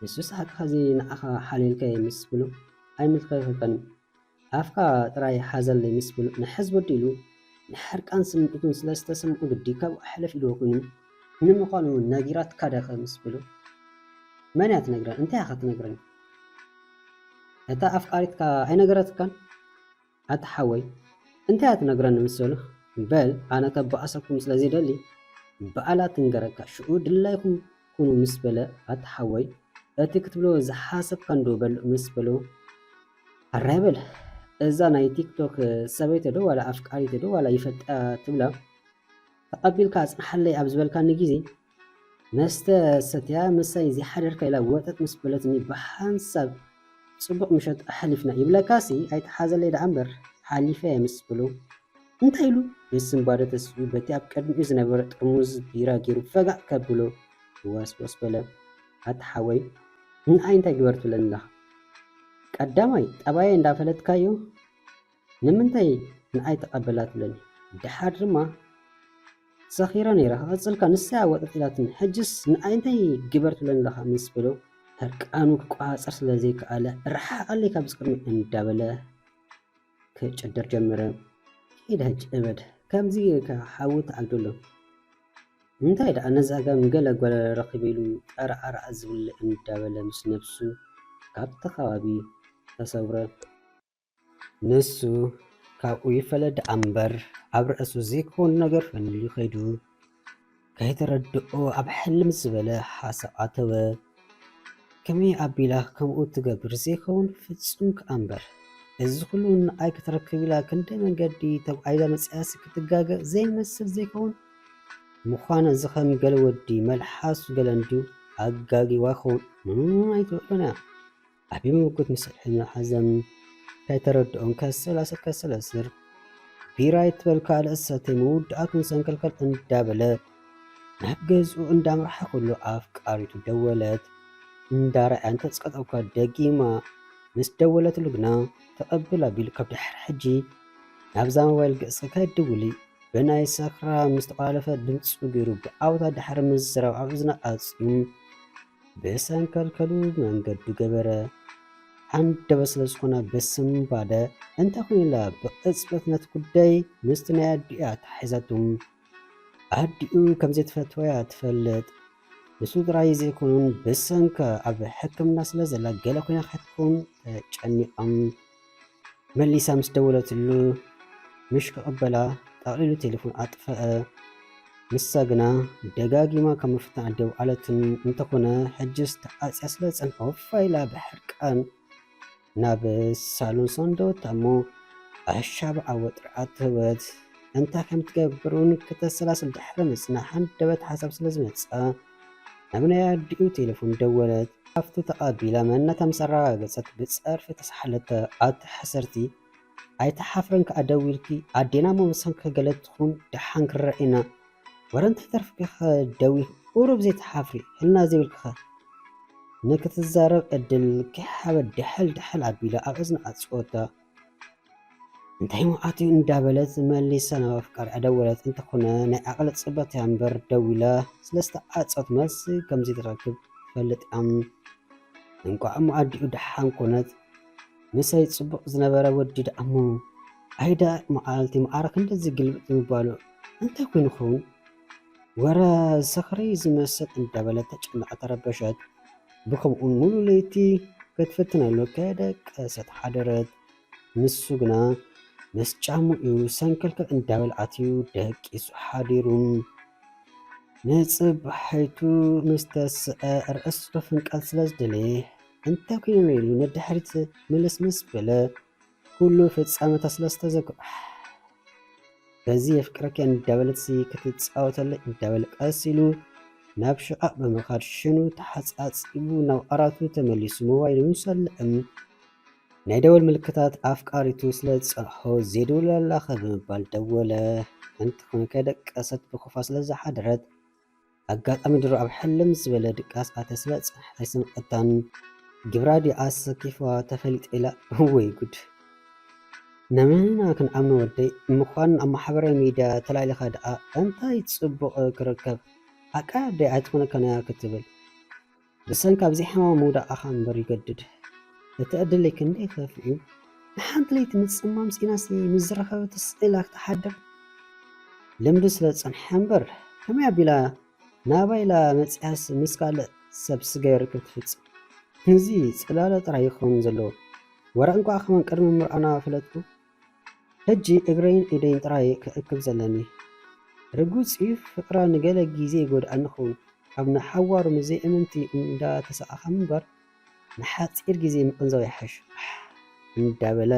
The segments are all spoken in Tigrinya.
የሱስ ሓቅኻ እዚ ንዓኻ ሓልየልካ እየ ምስ ብሉ ኣይምልከተካን እዩ ኣፍካ ጥራይ ሓዘለይ ምስ ብሉ ንሕዝ ወዲ ኢሉ ንሕርቃን ስምዒቱን ስለ ዝተሰምዑ ግዲ ካብኡ ሕልፍ ኢልዎ ኮይኑ ንምዃኑ ነጊራትካ ደኸ ምስ በሉ መን እያ ትነግረን እንታይ እያ ክትነግረን እታ ኣፍቃሪትካ ኣይነገረትካን ኣታ ሓወይ እንታይ እያ ትነግረኒ ምስ በሉ በል ኣነ ከባኣሰኩም ስለ ዘይደሊ ባኣላ ትንገረካ ሽኡ ድላይኩም ኩኑ ምስ በለ ኣታ ሓወይ እቲ ክትብሎ ዝሓሰብካ እንዶ በል ምስ በሉ ኣራይ በል እዛ ናይ ቲክቶክ ሰበይተ ዶ ዋላ ኣፍቃሪተ ዶ ዋላ ይፈልጣ ትብላ ተቐቢልካ ኣጽንሓለይ ኣብ ዝበልካኒ ግዜ መስተ ሰትያ ምሳይ ዘይሓደርካ ኢላ ወጠጥ ምስ በለትኒ ብሓንሳብ ጽቡቕ ምሸት ኣሕሊፍና ይብለካሲ ኣይትሓዘለይ ደኣ እምበር ሓሊፈያ ምስ በሎ እንታይ ኢሉ ብስንባደ ተሲኡ በቲ ኣብ ቅድሚኡ ዝነበረ ጥርሙዝ ቢራ ገይሩ ፈጋእ ከብሎ ወስወስ በለ ኣታ ሓወይ ንኣይ እንታይ ግበር ትብለኒ ኣለኻ ቀዳማይ ጠባየ እንዳፈለጥካዮ ንምንታይ ንኣይ ተቀበላትለይ ደሓር ድማ ሰኺረ ነይረ ክቅጽልካ ንሳ ወጠጢላትኒ ሕጅስ ንኣይ እንታይ ግበርትለኒ ኣለኻ ምስ በሎ ህርቃኑ ክቆጻጸር ስለ ዘይከኣለ ርሓቀለይ ካብዚ ቅድሚ እንዳበለ ክጭድር ጀመረ ሂድ ሕጅ እበድ ከምዚ ጌርካ ሓዊ ተዓግደሎ እንታይ ደኣ ነዚ ኣጋም ገለ ጓል ረኺበ ኢሉ ጠራኣራኣ ዝብል እንዳበለ ምስ ነብሱ ካብቲ ከባቢ ተሰውረ። ንሱ ካብኡ ይፈለ ደኣ እምበር ኣብ ርእሱ ዘይከውን ነገር ፈንዩ ከይዱ ከይተረድኦ ኣብ ሕልም ዝበለ ሓሳብ ኣተወ። ከመይ ኣቢላ ከምኡ ትገብር ዘይከውን ፍጹም ከኣ እምበር እዚ ኩሉ ንኣይ ክትረክብ ኢላ ክንደይ መንገዲ ተጓዒዛ መጺኣሲ ክትጋገ ዘይመስል ዘይከውን ምዃን እዚ ከም ገለ ወዲ መልሓሱ ገለ እንድዩ ኣጋጊዋ ይኸውን ኣይትበሎን እያ። ዓቢ ምጉት ንስርሐኛ ሓዘም ከይተረድኦም ከሰላስል ከሰላስል ቢራ ይትበል ካልእ ዝሰተይ ምውዳኣት ምሰንከልከል እንዳበለ ናብ ገዝኡ እንዳምርሓ ኩሉ ኣፍቃሪቱ ደወለት እንዳረኣያ እንተጽቀጠ እኳ ደጊማ ምስ ደወለትሉ ግና ተቐብል ኣቢሉ ካብ ድሕሪ ሕጂ ናብዛ ሞባይል ገጽ ከይድውሊ ብናይ ሰክራ ምስ ተቋለፈ ድምፁ ገይሩ ብኣውታ ድሕሪ ምዝራብ ኣብ እዝና ኣጽዩ ብሰንከልከሉ መንገዱ ገበረ። ሃንደበት ስለ ዝኾነ ብስምባደ እንተ ኮይኑላ ብቕጽበት ነቲ ጉዳይ ምስቲ ናይ ኣዲኣ ተሓሒዛቱ። ኣዲኡ ከም ዘይትፈትዋ'ያ ትፈልጥ። ንሱ ጥራይ ዘይኮኑን ብሰንካ ኣብ ሕክምና ስለ ዘላ ገለ ኮይና ከይትከውን ተጨኒቐም። መሊሳ ምስ ደወለትሉ ምሽ ክቕበላ ጠቕሊሉ ቴሌፎን ኣጥፍኣ። ንሳ ግና ደጋጊማ ካብ ምፍታሕ ደው ኣለትን። እንተኾነ ሕጅስ ተዓጽያ ስለ ዝጸንሖ ፋይ ኢላ ብሕርቃን ናብ ሳሎን ሰንደወታ እሞ ኣሻብ ዓወት ጥርዓት ትህወት። እንታይ ከም ትገብር እውን ክተሰላስል ድሕሪ ምጽናሕ ሃንደበት ሓሳብ ስለ ዝመጽኣ ናብ ናይ ኣዲኡ ቴለፎን ደወለት። ሃፍቲ ተቐቢላ መንነታ ምስ ኣረጋገጸት ብጸርፊ ተሳሓለቶ። ኣቲ ሓሰርቲ ኣይትሓፍርን ከኣ ደዊልኪ ኣዴና እሞ ብሰንክኺ ገለ ትኹን ደሓን ክረኣየና ወረ እንታይ ተርፍኪኸ ደዊልኪ ቁሩብ ዘይትሓፍሪ ሕልና ዘይብልኪኸ ንክትዛረብ ዕድል ከይሃበት ዳሕል ዳሕል ኣቢላ ኣብ እዝና ኣጽወታ። እንታይ መዓት እዩ እንዳበለት መሊሳ ናብ ኣፍቃሪኣ ደወለት። እንተኾነ ናይ ዓቕሊ ፅበት እያ እምበር ደዊላ ስለዝተዓፀወት መልሲ ከምዘይትረክብ ትፈልጥ እያ። እንቋዕ እሞ ኣዲኡ ደሓን ኮነት። ምሰይ ፅቡቕ ዝነበረ ወዲ ደኣ እሞ ኣይዳ መዓልቲ መዓረ ክንድዚ ግልብጥ ምባሉ እንታይ ኮይኑ ይኸውን? ወረ ዝኽሪ ዝመስል እንዳበለት ተጨንቐ ተረበሸት። ብከምኡን ሙሉ ለይቲ ክትፍትነሉ ከደቀሰት ሓደረት። ንሱ ግና ምስ ጫምኡ ሰንከልከል እንዳበል ኣትዩ ደቂሱ ሓዲሩ። ንጽባሒቱ ምስ ተስዐ ርእሱ ፍንቀል ስለ ዝደለየ እንተ ኩይኑ ኢሉ ንድሕሪት ምልስ ምስ በለ ኩሉ ፍጻመታ ስለ ዝተዘክሮ በዚ የፍቅረኪ እንዳበለትሲ ክትጻወተለይ እንዳበለ ቀስ ኢሉ ናብ ሽቓቕ ብምኻድ ሽኑ ተሓጻጺቡ ናብ ኣራቱ ተመሊሱ ሞባይሉ ምስ ኣልዕም ናይ ደወል ምልክታት ኣፍቃሪቱ ስለ ዝጸንሖ ዜድውለላኸ ብምባል ደወለ። እንተኾነ ከይደቀሰት ብኹፋ ስለ ዝሓደረት ኣጋጣሚ ድሮ ኣብ ሕልም ምስ ዝበለ ድቃስ ኣተ ስለ ጽንሕ ኣይሰምዐታን ግብራ ድያ ኣሰኪፍዋ ተፈሊጠ ኢላ ወይ ጉድ ነመን ኢና ክንኣምኖ ወደይ ምኳን ኣብ ማሕበራዊ ሚድያ ተላሊኻ ድኣ እንታይ ጽቡቅ ክርከብ ሓቃ ኣደይ ኣይትኾነካን እያ ክትብል ብሰንኪ ኣብዚ ሕማም ምውዳቕኻ እምበር ይገድድ እቲ ዕድለይ ክንደይ ከፍእዩ ንሓንቲ ለይቲ ምጽማም ሲኢናሲ ምስ ዝረኸበት ስዒላ ክትሓድር ልምዲ ስለ ዝጸንሐ እምበር ከመይ ኣቢላ ናባይ ኢላ መጺኣስ ምስ ካልእ ሰብ ስጋይ ርክብ ትፍጽም እዚ ጽላለ ጥራይ ይኸውን ዘለዎ ወረ እንቋዕ ከመን ቅድሚ ምርኣና ፈለጥኩ ሕጂ እግረይን ኢደይን ጥራይ'የ ክእክብ ዘለኒ። ርግጽ'ዩ ፍቅራ ንገለ ግዜ ይጎድኣኒ ክኸውን፣ ኣብ ንሓዋሩ ምስ ዘይእምንቲ እንዳ ተሳቐኻ ምንባር ንሓጺር ግዜ ምቕንዛው ይሓይሽ። ኣሕ! እንዳ በለ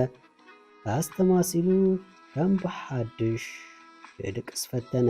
ኣስተማሲሉ ከም ብሓድሽ ክድቅስ ፈተነ።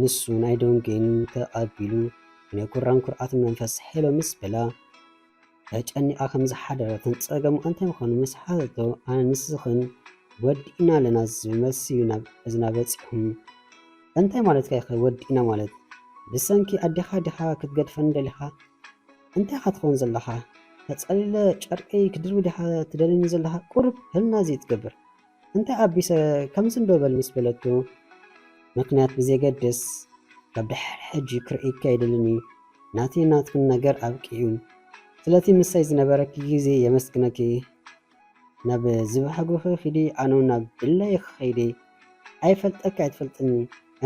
ንሱ ናይ ዶንጌኑ ተቐቢሉ ናይ ጉራን ኩርዓትን መንፈስ ሄሎ ምስ በላ ተጨኒቓ ከም ዝሓደረትን ጸገሙ እንታይ ምዃኑ ምስ ሓተቶ ኣነ ንስኽን ወዲእና ኣለና ዝብል መልሲ እዩ ናብ እዝና በጺሑ። እንታይ ማለትካ ኢኸ ወዲእና ማለት ብሰንኪ ኣዴኻ ዲኻ ክትገድፈኒ ደሊኻ? እንታይ ኢኻ ትኸውን ዘለኻ? ተጸሊለ ጨርቀይ ክድርቢ ዲኻ ትደልየኒ ዘለኻ? ቁሩብ ህልና ዘይትገብር? እንታይ ኣቢሰ ከምዚ እንዶ በል ምስ በለቶ፣ ምኽንያት ብዘየገድስ ካብ ድሕሪ ሕጂ ክርእይኪ ኣይደልን እዩ፣ ናተይን ናትክን ነገር ኣብቂዑ፣ ስለቲ ምሳይ ዝነበረኪ ግዜ የመስግነኪ፣ ናብ ዝበሃግኺ ኺዲ ኣነውን ናብ ድላየይ ክኸይድ እየ፣ ኣይፈልጠኪ ኣይትፈልጥኒ፣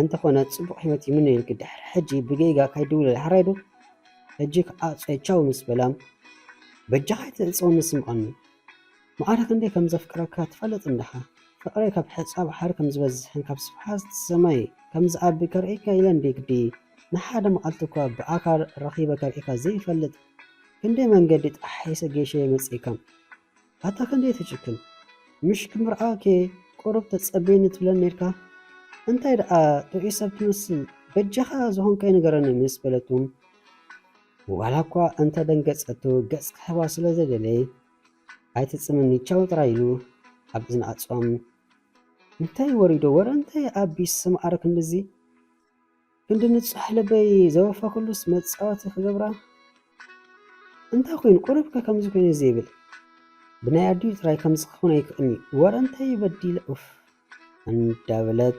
እንተኾነ ጽቡቕ ህይወት ይምነየልኪ፣ ድሕሪ ሕጂ ብጌጋ ካይትድውልለይ ሓራይ ዶ? ሕጂ ክኣ ጾይ ቻው ምስ በላ፣ በጃኻ ኣይትዕጸወኒ ስምዓኒ፣ መዓረ ክንደይ ከም ዘፍቅረካ ትፈልጥ እንድኻ ፍቅረይ ካብ ሕጻ ባሕሪ ከም ዝበዝሕን ካብ ስፍሓት ሰማይ ከም ዝዓቢ ከርእየካ ኢለ እንድየ ግዲ ንሓደ መዓልቲ እኳ ብኣካል ረኺበ ከርእየካ ዘይፈልጥ ክንደይ መንገዲ ጣሒሰ ጌሸየ መጺእካ ኣታ ክንደይ ትጭክን ምሽ ክምርዓወኬ ቁሩብ ተጸበየኒ ትብለኒ ኔርካ እንታይ ደኣ ጥዑይ ሰብ ትመስል በጃኻ ዝኾንካይ ንገረኒ ምስ በለቱ ዋላ እኳ እንተ ደንገጸቱ ገጽ ክህባ ስለ ዘይደለየ ኣይትጽምኒ ቻው ጥራይ ኢሉ ኣብ እዝኒ ኣጽዋም እንታይ ወሪዶ ወረ እንታይ ኣቢስ ስምዓረ ክንድዚ ክንዲ ንጹሕ ልበይ ዘወፈኹሉስ መጻወቲ ክገብራ እንታይ ኮይኑ ቁሩብከ ከምዚ ኮይኑ እዚ ይብል ብናይ ኣዲኡ ጥራይ ከምዚ ክኸውን ኣይክእልኒ ወረ እንታይ በዲለ ኡፍ እንዳበለት